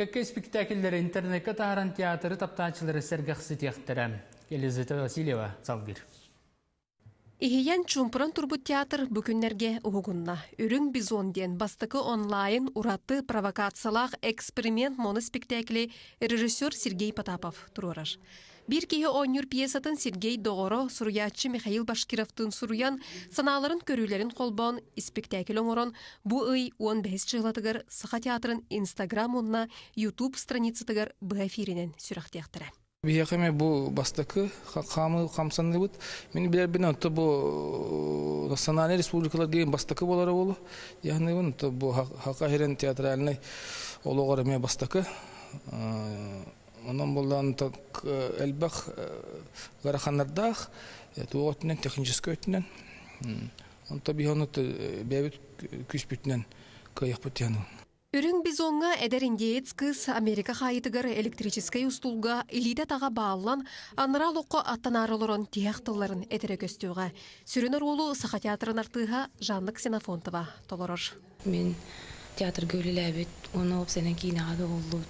Кэккэ испиктээкиллэри интернеккэ таһааран театры таптааччылары сэргэхситиэхтэрэ. Елизавета Васильева салгыыр. Иһийэн чумпуран турбут театр бу күннэргэ уһугунна. Үрүҥ бизон диэн бастакы онлайн ураты провокациялаах эксперимент моноспектакли режиссер Сергей Потапов туруорар. Биир киһи оонньуур пьесатын Сергей Доҕоро, суруйааччы Михаил Башкировтыын суруйан, санааларын көрүүлэрин холбоон испиктээкил оҥорон, бу ый уон бэһис дьылатыгар Саха театрын Инстаграм уонна Ютуб страницатыгар быһа эфиринэн сүрэхтиэхтэрэ. Биһиэхэ эмиэ бу бастакы хаамыы хамсаныыбыт. Мин билэрбин онто бу национальнай республикаларга бастакы буолара буолу. Яхныыбын то бу хаха иһирэн театральный олоҕор эмиэ бастакы Онон буллаан элбэх ыараханнардаах туох өттүнэн техническай өттүнэн онто бихонут бэйэбит күүспүтүнэн кыайахпыт тиһаны Үрүҥ бизоҥҥа эдэр индеец кыыс Америка хаайытыгар электрическэй устуулга илиитэ-атаҕа бааллан, анараа олоххо аттанаары олорон тиһэх тылларын этэрэ көстүөҕэ. Сүрүн оруолу Саха театрын артыыһа Жанна Ксенофонтова толорор. Мин театрга үлэлээбит уонна уопсайынан киинэҕэ да уһуллубут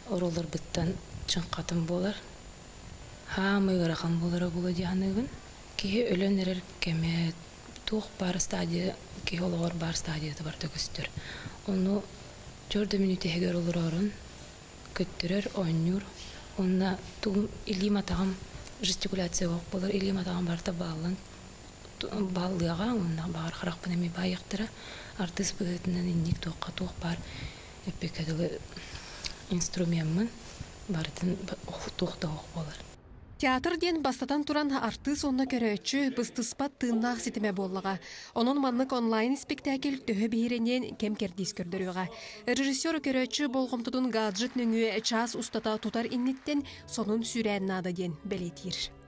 оруолларбыттан чыҥхатым буолар. Хаамыы ыарахан буолара буолуо дии саныыбын. Киһи өлөн эрэр кэмэ туох баар стадия киһи олоҕор баар стадиятыгар да көстөр. Ону төрт да мүнүүт иһигэр олороорун көттөрөр, оонньуур уонна тугум илиим-атаҕым жестикуляцияҕа буолар, илиим-атаҕым барыта бааллан бааллыаҕа уонна баҕар харахпын эмиэ баайыахтара артыыс быһыытынан инник туохха туох баар эппиэккэ дылы инструмеммын барытын туох да суох буолар Театр диэн бастатан туран артыыс уонна көрөөччү быстыспат тыыннаах ситимэ буоллаҕа. Онон маннык онлайн-испиктээкил төһө биһирэниэн кэм-кэрдиис көрдөрүөҕэ. Режиссер көрөөччү болҕомтотун гаджет нөҥүө чаас устата тутар инниттэн сонун сүүрээн наада диэн бэлиэтиир.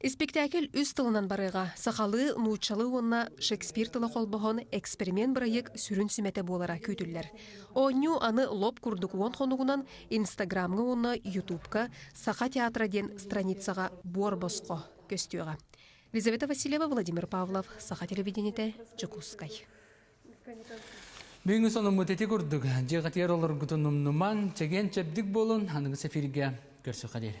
Испиктээкил үс тылынан барыыга сахалыы, нууччалыы уонна Шекспир тыла холбоһон эксперимент-бырайыак сүрүн сүмэтэ буолара күүтүллэр. Оонньуу аны лоп курдук уон хонугунан Инстаграмҥа уонна Ютубка Саха театра диэн страницаҕа буор босхо көстүөҕэ. Лизавета Васильева, Владимир Павлов, Саха телевидениетэ, Дьокуускай. Бүгүҥҥү сонуммут ити курдук. Дьиэҕэтигэр олоргутун умнуман, чэгиэн чэбдик буолун, аныгы сэфиргэ көрсүхэ диэри.